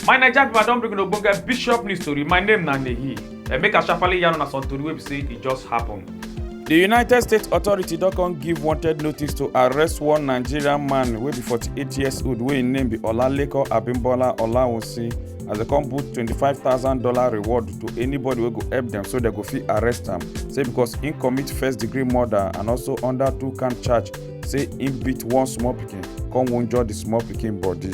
my naija pipo i don bring una ogbonge bishop news tori my name na nehi and make i sharparly yarn una some tori wey be say e just happen. di united states authority don come give wanted notice to arrest one nigerian man wey be 48 years old wey im name be olalekan abimbola olawunsi as dem come put twenty five thousand dollar reward to anybody wey go help dem so dem go fit arrest am say because im commit first degree murder and also under two count charge say im beat one small pikin come wunjure di small pikin body.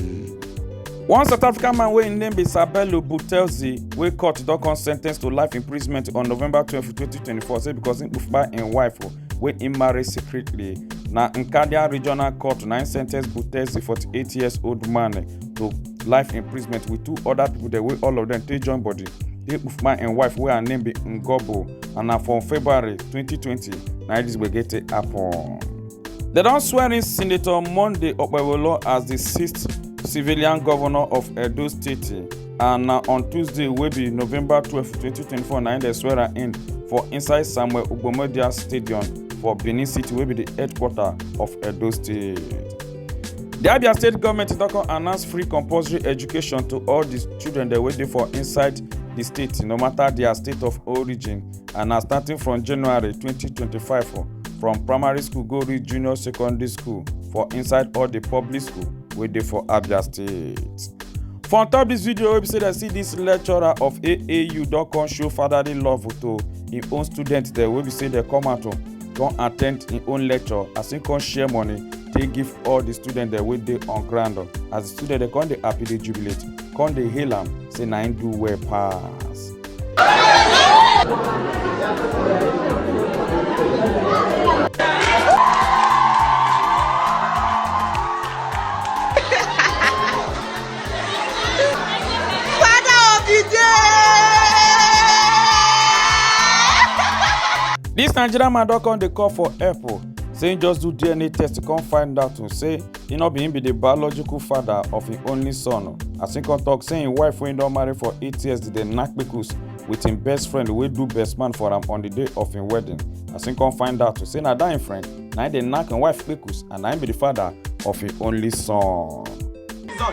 one south african man wey im name be sabelo butelzi wey court don come sen ten ce to life imprisonment on november twelve twenty twenty four say because im kpai im wife wey im marry secretly na nkadia regional court na im sentence butezi 48 years old man to life imprisonment with two other people dem wey all of dem take join body dey kpufuma im wife wey her name be ngobo and na for february 2020 na im dis gbege take happen. dem don swear in senator monday okpebholo as di sixth civilian governor of edo state. and na on tuesday wey be november twelve twenty twenty four na im dem swear am in for inside samuel ogbomodia stadium for benin city wey be di headquarter of edo state. di abia state goment don come announce free compulsory education to all di children dem wey dey for inside di state no matter dia state of origin and na starting from january twenty twenty five from primary school go reach junior secondary school for inside all di public school wey dey for abia state. for on top dis video wey be say dem see dis lecturer of aau don come show fatherly love to im own students dem wey be say dem come out come attend im own lecture as im come share money take give all di students dem wey dey on ground as di students dem come dey happy dey jubilate come dey hail am say na im do well pass. dis nigerian man don come dey call for help o say im just do dna test to come find out o say e no be im be di biological father of im only son as im come tok say im wife wey im don marry for eight years dey knack kpekus wit im best friend wey do best man for am on di day of im wedding as im come find out say na dat im friend na im dey knack im wife kpekus and na im be di father of im only son.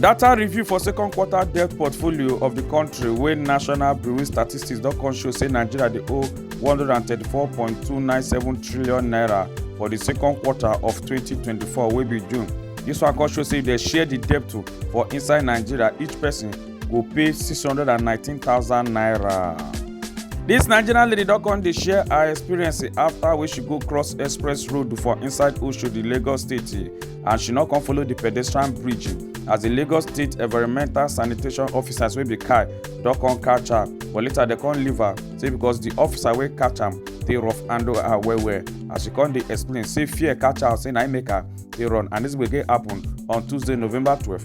Data review for second quarter debt portfolio of the country wey National Bureau Statistics don come show say Nigeria dey owe 134.297 trillion naira for the second quarter of 2024 wey be June. This one come show say if dem share the debt to for inside Nigeria, each person go pay 619,000 naira. This Nigerian lady don come dey share her experience after wey she go cross express road for inside Oshodi, Lagos State. and she no come follow di pedestrian bridge as di lagos state environmental sanitation officers wey be kai don come catch her but later dem come leave her say because di officer wey catch am dey rough handle her well well as she come dey explain say fear catch her say na im make her dey run and dis gbege happen on tuesday november twelve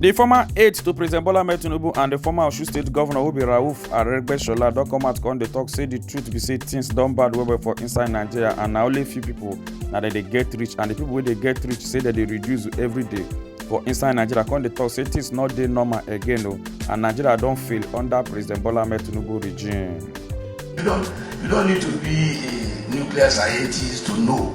The former aide to President Bola Ahmed Tinubu and the former Osun State Governor Obi Rauf Aregbesola don come out come dey talk say the truth be say things don bad well well for inside Nigeria and na only few people na dem dey get rich and the people wey dey get rich say dem dey reduce every day for inside Nigeria come dey talk say things no dey normal again o and Nigeria don fail under President Bola Ahmed Tinubu regime. You don't, you don't need to be a nuclear scientist to know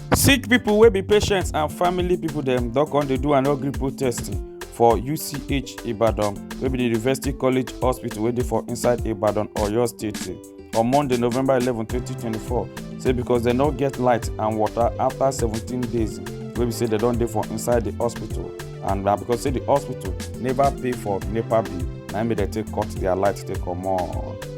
sick pipo wey be patients and family pipo dem don come dey do annual gree protest for uch ibadan wey be di university college hospital wey dey for inside ibadan oyo state on monday november eleven twenty twenty four say becos dem no get light and water afta seventeen days wey be say dem don dey for inside di hospital and na becos say di hospital neva pay for nepa bill na im make dem take cut dia light take comot.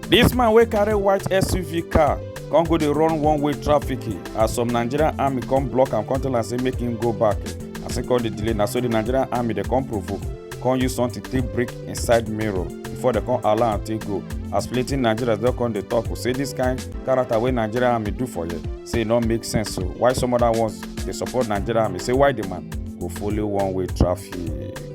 Dis man wey carry white SUV car come go dey run one way traffic as some Nigerian army come block am come tell am say make him go back as he come dey delay na so the Nigerian army dey come provoke come use something take break inside mirror before dem come allow am take go as plenty Nigerians don come dey talk say this kind character wey Nigerian army do for here say e no make sense so why some other ones dey support Nigerian army say why the man go follow one way traffic.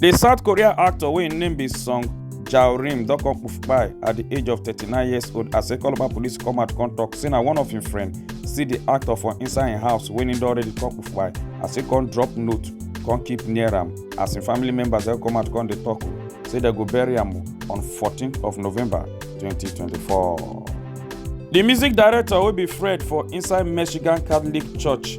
di south korean actor wey im name be song jao rim don come kpai at di age of 39 years old as ekolaba police come out come tok say na one of im friend see di actor for inside im house wey im don already come kpai as e come drop note come keep near am as im family members don come out come dey tok say dem go bury am on 14th of november 2024 di music director wey be fred for inside michigan catholic church